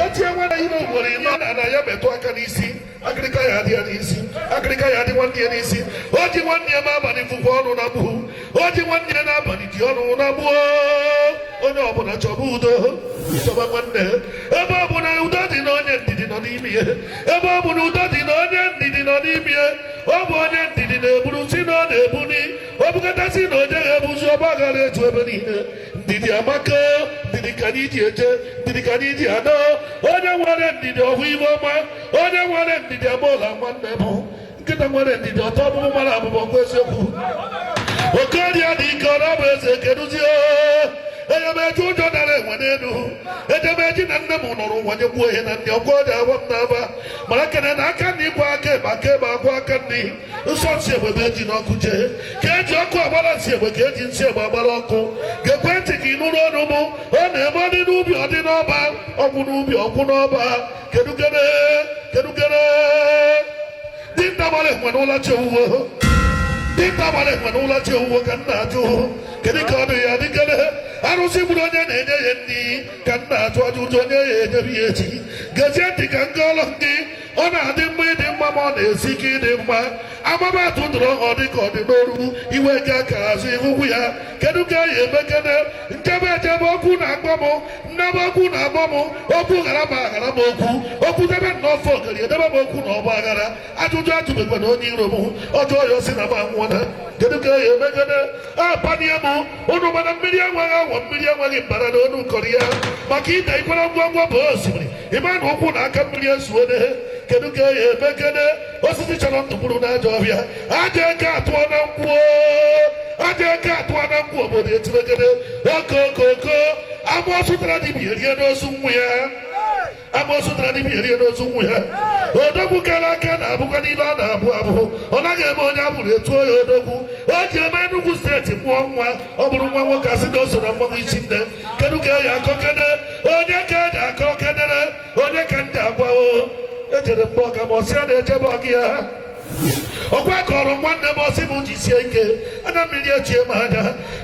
otie nwana ime ugboro ịma na na ya metụ aka n'isi akịrịka ya dị ya n'isi akịrịka ya dị nwanne ya n'isi o ji nwanne ya n'abalị fụkwa ọnụ na gbuhu o ji nwanne ya n'abalị dị ọnụ na gbuo onye ọbụla chọba udo chọba nwanne ebe ọ bụla udo dị na onye ndidi nọ n'ime ya ebe ọ bụla udo dị na onye ndidi nọ n'ime ya ọ bụ onye ndidi na-eburu si na ọ na-ebuli o bukata sị na o jeghị ebuzi ọgba aghara eju ebe niile ndidi amaka ndidi ka anyị ji eje ndidi ka anyị ji ana onye nwere ndidi ọ hụ ife ọma onye nwere ndidi agboola nwanne bụ nkịta nwere ndidi ọ taa ọkpụkpụ mara abụba ọ kwa eziokwu okorie dị ike ọ na-abụ eze keduzie eje m eji ụjọ dara enwe n'elu eje m eji na nne m nọrọ ụwa nye gbuo ihe na ndị ọgwọ dị awa m n'aba mara kene na aka nri kwaa aka ekpe aka ekpe akwaa aka nri nsọ nsị egbe bụ eji n'ọkụ jee ka eji ọkụ agbara nsị egbe ka eji nsị egbe agbara ọkụ gekwe ntị ka ị nụrụ ọnụ mụ ọ na-eme ọdị n'ubi ọdị n'ọba ọgwụ n'ubi ọgwụ n'ọba kedugere kedugere dinta gbara enwe n'ụlọ chi owuwo dinta gbara enwe n'ụlọ chi owuwo ka m na-ajụ kedu ka ọ dị ya dịgere arụsị gburu onye na-enye ya nri ka m na-ajụ ajụjụ onye ya enyere ya echi gezie ntị ka m kọọlọ gị ọ na-adị mma ịdị mma ma ọ na-esi ike ịdị mma amaba atụ dụrụ ọ dị ka ọ dị n'oru iwe ga ka azụ ịhụkwu ya kedu ka a ya-emekene m jebe ejebe okwu na-akpọ m m nabe okwu na-akpọ m okwu ghara m aghara m okwu okwu debe na ọfọ ogari edebe m okwu na ọgba aghara ajụjụ ajụbekwana onye iro m a jụọ ya ọ sị na m anwụọla kedu ka a ya-emekene apanie m unu ma na mmiri enweghị awọ mmiri enweghị mbara na onu nkọrọ ya maka ide ị kwọrọ ngwa ngwa bụ osimiri ịma na ụkwụ na aka mmiri ezuo n'ehe kedu ka a ya-emekene osisi chọrọ ntụgburu na aja ọhịa aja eke atụọ na Nkwọ aja eke atụọ na Nkwọ obodo etibekene okookoko amoosu tara dibia rie n'ozu nwa ya amoosu tara dibia rie n'ozu nwa ya odogwu kara aka na-abụkwa n'ibe a na-abụ abụ ọ naghị eme onye abụrụ etuo ya odogwu o ji eme Enugu steeti mụọ nwa ọ bụrụ nwa nwoke asị na o so na mmanwụ isi nne kedu ka a ya-akọkene onye ka eji akọ kenere onye ka m ja-agwa o ejere m be ọga m ọ sị a na-eje be gị ya ọkwa kọrọ nwanne m ọ sị m jisie ike anya mmiri echie m anya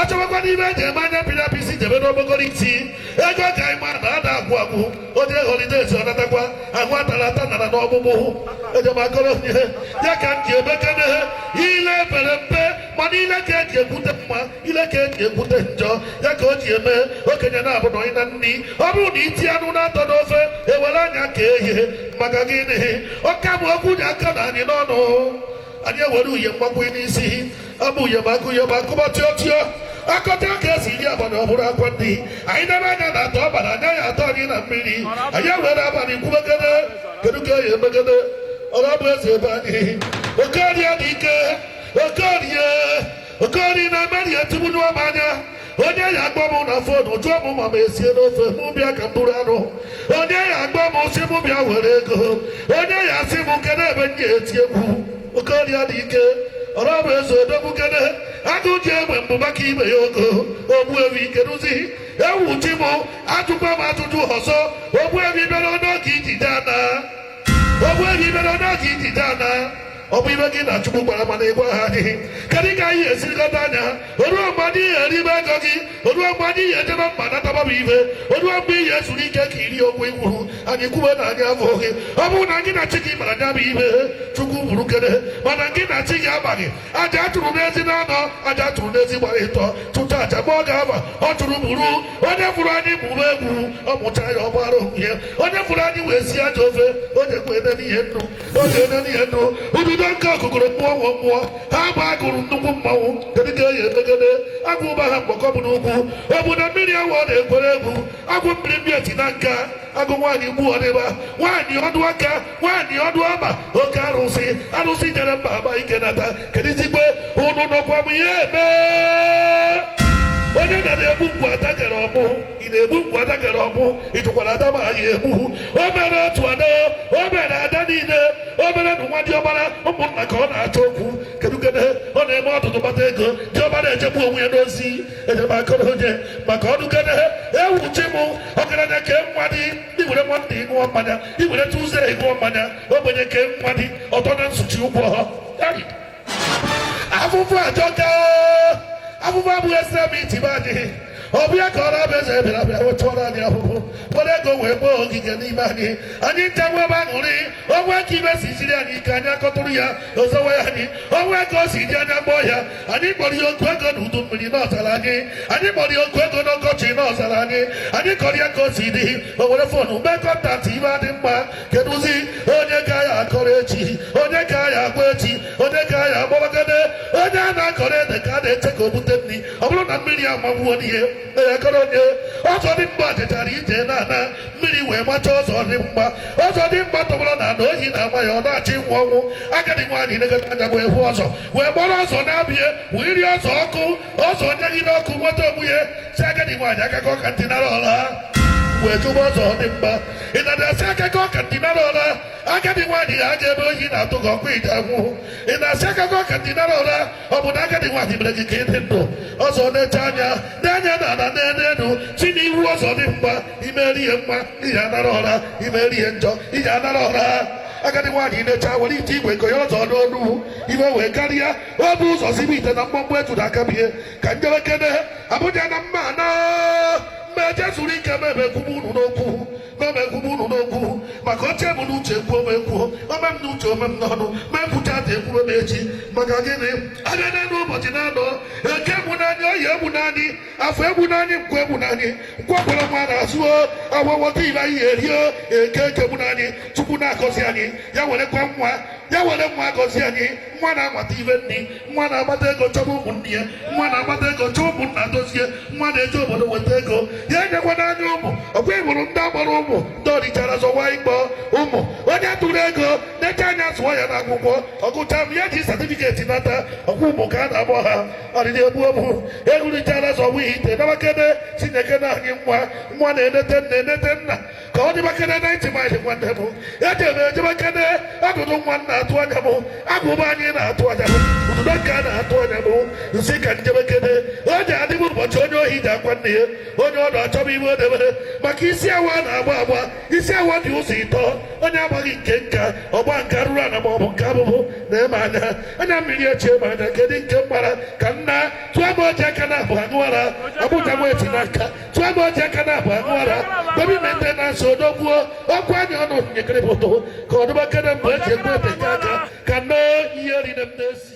achọbakwanụ ife eji eme anya pịrị apịsị jebe n'okpokoro isi ego ka anyị ma na ada agwụ agwụ onye holidays ọ natakwa ahụ atara ata nara n'ọgbụgbụ hụ eje m akọrọ onye ya ka m ji emekene ile pere mpe mana ile ka eji ekwute mma ile ka eji ekwute njọ ya ka o ji eme okenye na-abụ na onye na nri ọ bụrụ na iti anụ na-atọ n'ofe ewere anya ka ehie maka gịnị ọka bụ okwu ji aka na anyị n'ọnụ anyị ewere uye mgbakwunye n'isi abụ yabakụ yabakụ ma tịọ tịọ akọta ka esi iri abalị ọ bụrụ akwa ndị anyị debe anya na atọ abalị anya ya atọ anyị na mmiri anyị were abalị kwubegede kedu ka ya emegede ọrụ bụ eze ebe anyị oke ọrịa dị ike oke ọrịa oke ọrịa na-emeri etigbu n'ọma anya onye ya akpọ m na fon jụọ m ma m esie n'ofe mụ bịa ka m buru anụ onye ya akpọ m sị m bịa were ego onye ya asị m kedu ebe m ga-eti egwu oke ọrịa dị ike ọrụ bụ eze odogwu kene agụ ji egbe mbụ maka ibe ya ogo ogbuefi keduzi ewu chi m ajụkwa m ajụjụ ọzọ ogbuefi bịara n'oge ijide ana ogbuefi bịara n'oge ijide ana ọ bụ ibe gị na chukwu kpara mana ị gwaha anyị kedu ka anyị esi lekọta anya ha oruo mgbe anyị ye eribe ego gị oruo mgbe anyị ye ejebe mba nataba bụ ibe oruo mgbe i ye ezuru ike ka iri okwu ikwuru anyị kwuwe na anyị afụghị gị ọ bụrụ na gị na chi gị mara nya bụ ibe chukwu buru kere mana gị na chi gị amaghị aja achụrụ n'ezi na anọ aja achụrụ n'ezi gbara ịtọ chụta aja mgbe ọ ga-aba ọ chụrụ buru onye fụrụ anyị mụrụ egwu ọ mụcha ya ọ gbara onwe ya onye fụrụ anyị wee si aja ofe onye kwere n'ihe nnu onye kwere n'ihe nnu ududo nga o kogoro mmụọ nwe mmụọ ha bụ agụrụ nnukwu mmanwụ kedu ka i ye emegede agwụ ụba ha mgbakọ bụ n'ugwu ọ bụ na mmiri awụ ọ na-ekwere egwu agwụ mmiri mmiri eti na nka agwụ nwaanyị gbu ọdịba nwaanyị ọdụ aka nwaanyị ọdụ ọkpa oke arụsị arụsị jere mba aba ike nata kedu izigbe ụnụ nọkwa m ihe eme onye na-egbu mgbu ada jere ọmụ ị na-egbu mgbu ada jere ọmụ ị jụkwara ada ma anyị egbu o mere otu ada o mere ada niile o mere na nwa diọkpara ụmụnna ka ọ na-achọ okwu kedu kedu ọ na-eme ọtụtụ kpata ego diọkpara ejegbu onwe ya n'ozi ejemakọrọ onye maka ọnụ kedu ewu chi m ọgaranya ke nwa dị iwere nwata ịṅụọ mmanya iwere tụze ịṅụọ mmanya ogbenye ke nwa dị ọtọ na nsuchi ụgwọ ha afụfụ ajọka afụfụ abụghị esere m itibe anyị ọ bụ ya ka ọ na-abịa eze bịara bịa wetụọrọ anyị ahụhụ were ego wee gboo ogige n'ime anyị anyị ncha nwebe aṅụrị onwe ka ibe si siri anyị ike anyị akọtụrụ ya ọ zọwa ya anyị onwe ka o si dị anyị akpọọ ya anyị kpọrọ ya oku ego n'udu mmiri na ọ zara anyị anyị kpọrọ ya oku ego n'ọkọchị na ọ zara anyị anyị kọrọ ya ka o si dị o were fon mee contact ibe adị mma kedụzi onye ka ya akọrọ echi onye ka ya agwa echi onye ka ya akpọrọgede onye a na-akọrọ ede ka a na-eche ka o bute nni ọ bụrụ na mmiri amagbuo n'ihe akọrọ onye ọzọ dị mgba jechara ije na-ana mmiri wee macha ọzọ dị mgba ọzọ dị mgba tọgbọrọ n'ana oyi na-ama ya ọ na-achọ ịnwụ ọnwụ agadi nwaanyị negata anya wee hụ ọzọ wee kpọrọ ọzọ naa be ya wee nye ọzọ ọkụ ọzọ nyagide ọkụ nweta onwe ya sị agadi nwaanyị akakọ ka ntị nara ọla wee jụba ọzọ dị mgba ị na-asị akụkọ ka ndinara ụra agadi nwaanyị ya aja ebe oyi na-atụ gị ọkwa ije anwụhụ ị na-asị akụkọ ka ndinara ụra ọ bụ na agadi nwaanyị mere gị ka ị dị ndụ ọzọ na-eche anya na-anya na ala na-enu enu si n'ihu ọzọ dị mma i meri ihe mma ị ya-anara ụra i meri ihe njọ ị ya-anara ụra agadi nwaanyị na-eche were ite igwe nke ya ọzọ n'ọnụ iwe wee karịa o bu ụzọ sibe ite na mkpọmkpọ eju na-aka bie ka njewekene abụja na mma na mgbe ejezuru ike mebe ekwugbu unu n'okwu mebe ekwugbu unu n'okwu maka o che m n'uche ekwuo m ekwuo o me m n'uche o me m n'ọnụ m ekwucha taa ekwuo m echi maka gịnị a bịa n'elu ụbọchị naanọ eke egbuna anyị oye egbuna anyị afọ egbuna anyị nkwọ egbuna anyị nkwọ kwọrọ nwa n'azụ o afọ weta ive anyị erie o eke eke egbuna anyị chukwu na-agọzi anyị ya werekwa nwa ya were nwa gọzie anyị nwa na-akpata ive nri nwa na-akpata ego chọba ụmụnne ya nwa na-akpata ego chọọ ụmụnna dozie nwa na-eje obodo weta ego ya enyekwana anyị ụmụ ọkwa ịbụrụ ndị agbara ụmụ ndị o richara zọwa ịkpọ ụmụ onye tụrụ ego na-eche anya zụọ ya n'akwụkwọ ọ gụcha m ya ji satifiketi nata ọkwa ụmụ ka a na-akpọ ha ọdịdị egbu egbu ewu richara zọwa ite na m ekele chineke nye anyị nwa nwa na-enete nna enete nna ka ọ dịbakere naịntị maịlị nwanne m eje m ejebakere adụdụ nwa na-atụ anya m agụba anyị na-atụ anya m ụdụdọ nke a na-atụ anya m m sị ka m jebekere o ji adịbụ ụbọchị onye ohi ji akwa nne ya onye nọ achọba ive o debere maka isi awọ na-agba agba isi awọ dị ụzọ ịtọ onye agbaghị nke nka ọ gbaa nke arụrụ ana ma ọ bụ nke avụvụ na-eme anya anya mmiri echie m anya kedu nke m gbara ka nna tụọ m oji aka na abụ anụ ara abụja m eti n'aka tụọ m oji aka na-abụ aṅụara dobi na ndị na-asụ odogbuo ọkụ anya ọnụ nyekere pụtụ ka ọ dịbakere mgbe eji egbu ete aka ka nne ihe rire m n'ezi